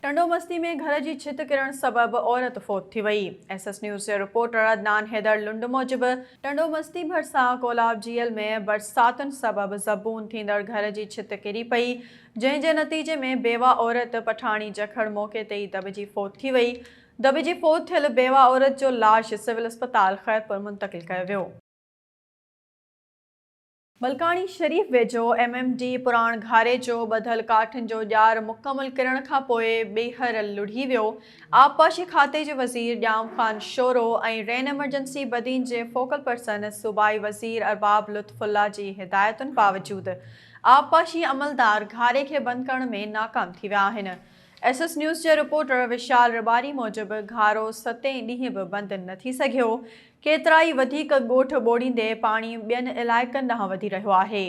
ٽنڊو مستي ۾ گهر جي ڇت ڪرڻ سبب عورت فوت ٿي وئي، ايس ايس نيوز جي رپورٽر عدنان حيدر لنڊ موجب ٽنڊو مستي ڀرسان ڪولاب جيل ۾ برساتن سبب زبون ٿيندڙ گهر جي ڇت ڪري پئي جنهن جي نتيجي ۾ بيوه عورت پٺاڻي جکڙ موقعي تي ئي دٻجي فوت ٿي وئي دٻي جي فوت ٿيل بيوه عورت جو لاش سول اسپتال خيرپور منتقل ڪيو ويو. ملڪاڻي شريف ويجهو ايم ايم ڊي پراڻ گهاري جو ٻڌل ڪاٺن جو ڄار مڪمل ڪرڻ کانپوء ٻيهر لڙهي ويو، آبپاشي کاتي جي وزير ڄام خان شورو ۽ رين ايمرجنسي بدين جي فوڪل پرسن صوبائي وزير ارباب لطف الله جي هدايتن باوجود آبپاشي عملدار گهاري کي بند ڪرڻ ۾ ناڪام ٿي ويا آهن. ايس ايس نيوز جي رپورٽر وشال رباري موجب گهارو ستين ڏينهن به بند نه ٿي سگهيو، ڪيترائي وڌيڪ ڳوٺ ٻوڙيندي پاڻي ٻين علائقن ڏانهن وڌي رهيو آهي،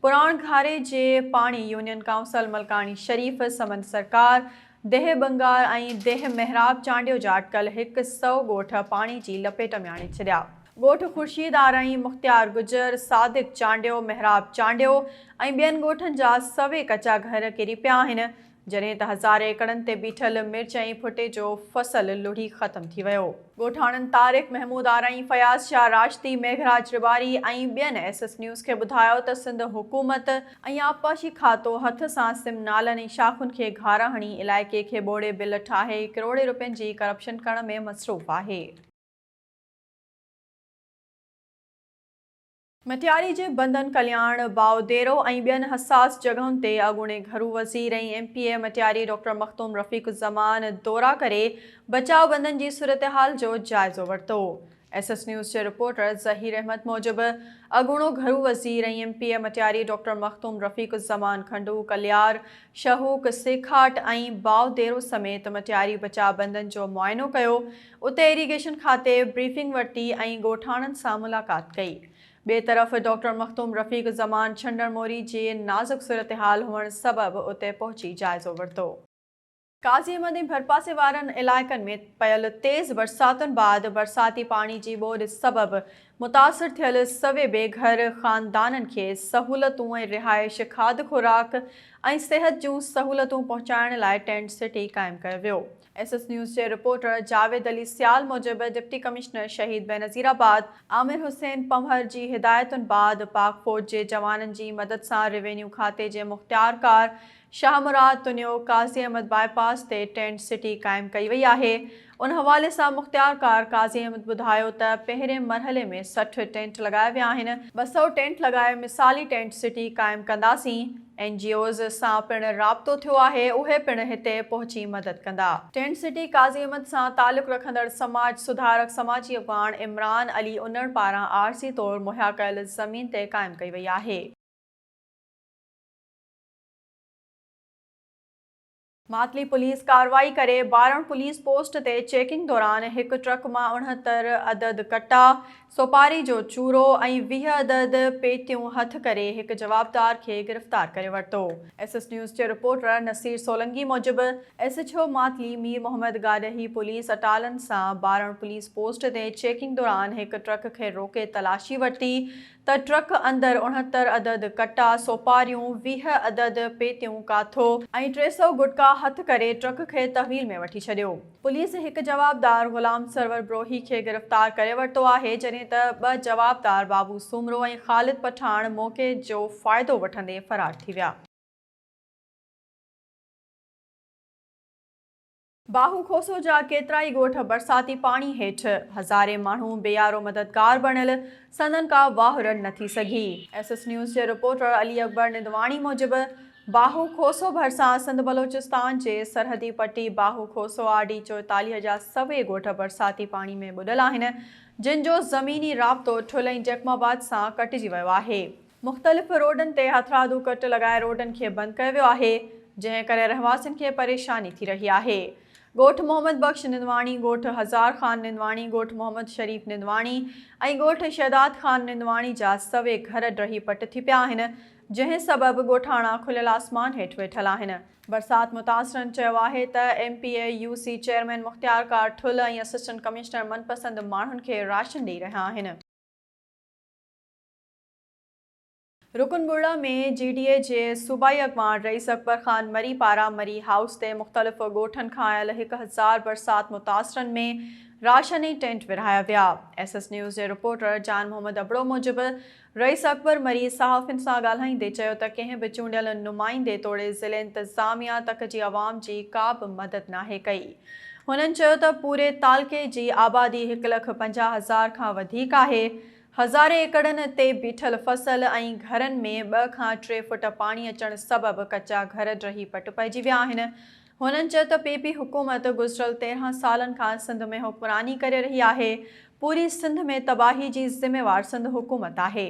پراڻ گهاري جي پاڻي يونين ڪائونسل ملڪاڻي شريف، سمنڊ سرڪار، ديهه ٻنگار ۽ ديهه محراب چانڊيو جا اٽڪل هڪ سئو ڳوٺ پاڻي جي لپيٽ ۾ آڻي ڇڏيا. ڳوٺ خورشيد آرائين، مختيار گجر، صادق چانڊيو، محراب چانڊيو ۽ ٻين ڳوٺن جا سوين ڪچا گهر ڪري پيا آهن، جڏهن ته هزار ايڪڙن تي بيٺل مرچ ۽ ڦٽي جو فصل لڙهي ختم ٿي ويو. ڳوٺاڻن طارق محمود آرائين، فياض شاهه راشدي، ميگهراج رباري ۽ ٻين ايس ايس نيوز کي ٻڌايو ته سنڌ حڪومت ۽ آبپاشي کاتو هٿ سان سم نالن ۽ شاخن کي گهارا هڻي علائقي کي ٻوڙي بل ٺاهي ڪروڙين روپين جي ڪرپشن ڪرڻ ۾ مصروف آهي. مٽياري جي بندن ڪلياڻ، باء ديرو ۽ ٻين حساس جڳهن تي اڳوڻي گهرو وزير ۽ M P A Matiari doctor Makhdoom Rafiq Uzzaman دورا ڪري بچاء بندن جي صورتحال جو جائزو ورتو. ايس ايس نيوز جي رپورٽر ظهير احمد موجب اڳوڻو گهرو وزير ۽ M P A Matiari doctor Makhdoom Rafiq Uzzaman کنڊو، ڪليار، شهوڪ، سيکاٽ ۽ باء ديرو سميت مٽياري بچاء بندن جو معائنو ڪيو، اتي ايريگيشن کاتي بريفنگ ورتي ۽ ڳوٺاڻن سان ملاقات ڪئي. ٻئي طرف ڊاڪٽر مخدوم رفيق زمان ڇنڊڻ موري جي نازڪ صورتحال هئڻ سبب اتي پهچي جائزو ورتو. قاضي احمد ۽ ڀرپاسي وارن علائقن ۾ پيل تيز برساتن بعد برساتي پاڻي جي ٻوڏ سبب متاثر ٿيل سوين بي گهر خاندانن کي سهولتون ۽ رهائش، کاڌ خوراڪ ۽ صحت جون سهولتون پهچائڻ لاء ٽينٽ سٽي قائم ڪيو ويو. ايس ايس نيوز جي رپورٽر جاويد علي سيال موجب ڊپٽي ڪمشنر شهيد بينظير آباد عامر حسين پنهور جي هدايتن بعد پاڪ فوج جي جوانن جي مدد سان روينيو کاتي جي مختيارڪار شاهه مراد تنيو قاضي احمد باء پاس تي ٽينٽ سٽي قائم ڪئي وئي آهي ان حوالي سان مختيارڪار قاضي احمد ٻڌايو ته پهرين مرحلي ۾ سٺ ٽينٽ لڳايا ويا آهن ٻه سئو ٽينٽ لڳائي مثالي ٽينٽ سٽي قائم ڪنداسين. اين جي اوز سان پڻ رابطو ٿيو آهي، اهي پڻ هتي پهچي مدد ڪندا. ٽينٽ سٽي قاضي احمد سان تعلق رکندڙ سماج سڌارڪ سماجي اڳواڻ عمران علي انڙ پاران عارضي طور مهيا ڪيل زمين تي قائم ڪئي وئي آهي. ماتلي پوليس ڪارروائي ڪري بارڻ پوليس پوسٽ تي چيڪنگ دوران هڪ ٽرڪ مان اڻهتر عدد ڪٽا، سوپاري جو چورو ۽ ويهه عدد پيتيون هٿ ڪري هڪ جوابدار کي گرفتار ڪري ورتو. ايس ايس نيوز جي رپورٽر نصير سولنگي موجب S H O Matli Mir Muhammad گاڏهي پوليس اٽالن سان بارڻ پوليس پوسٽ تي چيڪنگ دوران هڪ ٽرڪ کي روڪي تلاشي ورتي ته ٽرڪ اندر اڻهتر عدد ڪٽا، سوپاريون، ويهه عدد پيتيون ڪاٿو ۽ ٽي سؤ گٽڪا هٿ ڪري ٽرڪ کي تحويل ۾ وٺي ڇڏيو. پوليس هڪ جوابدار غلام سرور بروهي کي گرفتار ڪري ورتو آهي، جڏهن ته ٻه جوابدار بابو سومرو ۽ خالد پٺاڻ موقعي جو فائدو وٺندي فرار ٿي ويا. باهو کوسو جا ڪيترائي ڳوٺ برساتي پاڻي هيٺ، هزارين ماڻهو بيارو مددگار بڻيل، سندن ڪا واهه رڙ نه ٿي سگهي. ايس ايس نيوز جي رپورٽر علي اڪبر نندواڻي موجب، باهو کوسو ڀرسان سنڌ بلوچستان جي سرحدي پٽي باهو کوسو آر ڊي چوئيتاليهه جا سوين ڳوٺ برساتي پاڻي ۾ ٻڏل آهن، جن جو زميني رابطو ٺل ۽ جيڪب آباد سان ڪٽجي ويو آهي. مختلف روڊن تي هٿرادو ڪٽ لڳائي روڊن کي بند ڪيو ويو آهي، جنهن ڪري رهواسين کي پريشاني ٿي رهي آهي. ڳوٺ محمد بخش نندواڻي، ڳوٺ هزار خان نندواڻي، ڳوٺ محمد شريف نندواڻي ۽ ڳوٺ شهداد خان نندواڻي جا سوين گهر ڊهي پٽ ٿي پيا آهن، جنهن سبب ڳوٺاڻا کليل آسمان هيٺ ويٺل آهن. برسات متاثرن چيو آهي ته M P A U C chairman مختيار ڪار ٺل ۽ اسسٽنٽ ڪمشنر من پسند ماڻهن کي راشن ڏئي رهيا آهن. رڪن ٻرڙا ۾ جي ڊي اي جي صوبائي اڳواڻ رئيس اڪبر خان مري پاران مري هائوس تي مختلف ڳوٺن کان آيل هڪ هزار برسات متاثرن ۾ راشن ۽ ٽينٽ ورهايا ويا. ايس ايس نيوز جي رپورٽر جان محمد ابڙو موجب رئيس اڪبر مري صحافين سان ڳالهائيندي چيو ته ڪنهن به چونڊيل نمائندي توڙي ضلعي انتظاميا تڪ جي عوام جي ڪابه مدد ناهي ڪئي. هنن چيو ته پوري تعلقي جي آبادي هڪ لک پنجاهه هزار کان وڌيڪ آهي. هزارين ايڪڙن تي بيٺل فصل ۽ گهرن ۾ ٻه کان ٽي فوٽ پاڻي اچڻ سبب ڪچا گهر ڊهي پٽ پئجي ويا آهن. هنن چيو ته پي پي حڪومت گذريل تيرهن سالن کان سنڌ ۾ حڪمراني ڪري رهي آهي، پوري سنڌ ۾ تباهي جي ذميوار سنڌ حڪومت آهي.